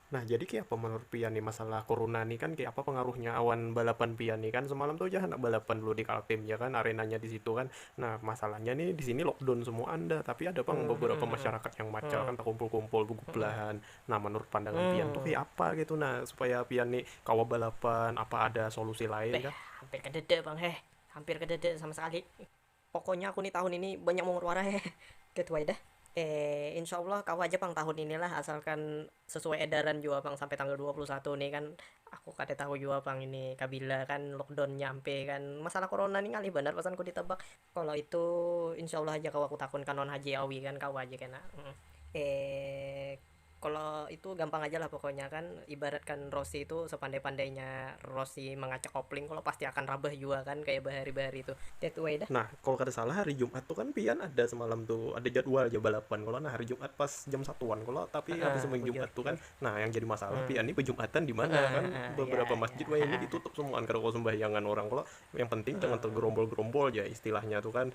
Nah, jadi kayak apa menurut pian nih masalah corona nih kan kayak apa pengaruhnya awan balapan pian nih kan semalam tuh aja anak balapan dulu di Kaltim ya kan arenanya di situ kan. Nah, masalahnya nih di sini lockdown semua anda, tapi ada pang hmm, beberapa hmm, masyarakat yang macal kan terkumpul-kumpul belahan. Nah, menurut pandangan pian tuh kayak apa gitu nah supaya pian nih kawa balapan apa ada solusi lain kah? Hampir kedede bang heh, hampir kedede sama sekali. Pokoknya aku ni tahun ini banyak mungut wara he get why dah eh insya allah kawa ja pang tahun ini lah asalkan sesuai edaran jua pang sampai tanggal dua puluh satu ni kan aku kada tahu jua pang ini kabila kan lockdown nya ampih kan masalah corona ni ngalih banar pasan ku ditebak kalo itu insya allah haja kawa ku takun kan lawan haji awi kan kawa ja kena eh. Kalo itu gampang aja lah pokoknya kan ibaratkan rosi itu sepandai-pandainya rosi mangacak kopling kalo pasti akan rabah jua kan kaya bahari-bahari tu that way dah. Nah, kalo kada salah hari Jumat tu kan pian ada semalam tu ada jadwal ja balapan kalo nah hari Jumat pas jam satuan kalo tapi Heeh, habis sembahyang bujur Jumat tu kan nah yang jadi masalah pian ni bejumatan di mana Heeh, kan heeh, ya, beberapa ya, masjid wayahini heeh. ditutup semuaan kada kawa sembahyangan orang kalo yang penting jangan Heeh. tergerombol-gerombol ja istilahnya tu kan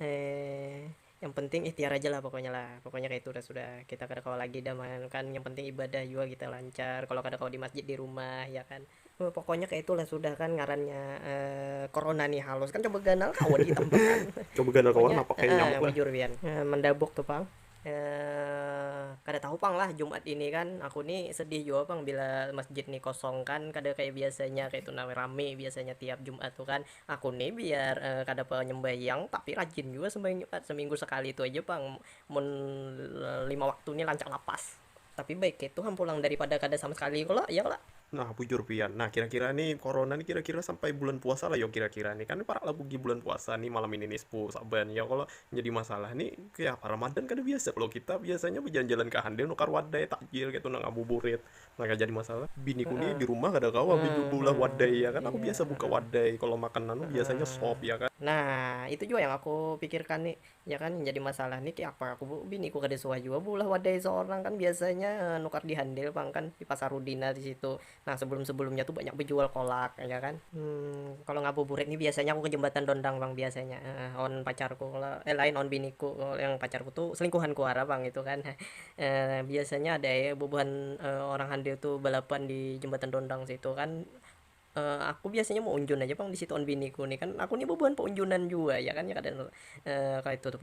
He yang penting ihtiar aja lah pokoknya lah, pokoknya kaitu dah sudah, kita kada kawa lagi dah man, kan yang penting ibadah jua kita lancar, kalo kada kawa di masjid di rumah ya kan, pokoknya kaitu lah sudah kan ngarannya corona ni halus kan coba ganal kawa di itam pang, Coba ganal kawa napa kaya nyamuk lah. Bujur pian mandabuk tu pang, kada tahu pang lah jumat ini kan, aku ni sedih jua pang bila masjid ni kosong kan kada kaya biasanya kaitu nah rami biasanya tiap jumat tu kan. Aku nih biar uh, kada apa nyembayang tapi rajin juga sembayang Jumat seminggu sekali itu aja bang mun lima waktu nih lancar lapas tapi baik itu ham pulang daripada kada sama sekali kalau ya kalau Nah, bujur pian. Nah, kira-kira nih corona nih kira-kira sampai bulan puasa lah yo kira-kira nih. Kan para labugi bulan puasa nih malam ini nih sepuh saban. Ya kalau jadi masalah nih kayak apa Ramadan kan biasa kalau kita biasanya berjalan-jalan ke handel nukar wadai takjil gitu nang ngabuburit. Nah kayak jadi masalah biniku nih di rumah kada kawa baju beulah wadai ya kan aku iya. biasa buka wadai kalau makan nanu biasanya sop ya kan nah itu juga yang aku pikirkan nih ya kan yang jadi masalah nih kayak apa aku biniku kada suah juga beulah wadai seorang kan biasanya eh, nukar di handil bang kan di pasar Rudina di situ nah sebelum sebelumnya tuh banyak berjual kolak ya kan hmm, kalau ngabuburit nih biasanya aku ke jembatan Dondang bang biasanya eh, on pacarku kalau eh lain on biniku kalau yang pacarku tuh selingkuhanku arah bang itu kan Biasanya ada ai bubuhan orang handir tu balapan di jembatan dondang situ kan, aku biasanya meunjun aja pang disitu wan biniku ni kan, aku ni bubuhan peunjunan jua ya kan, ya kada kaya itu tu pang.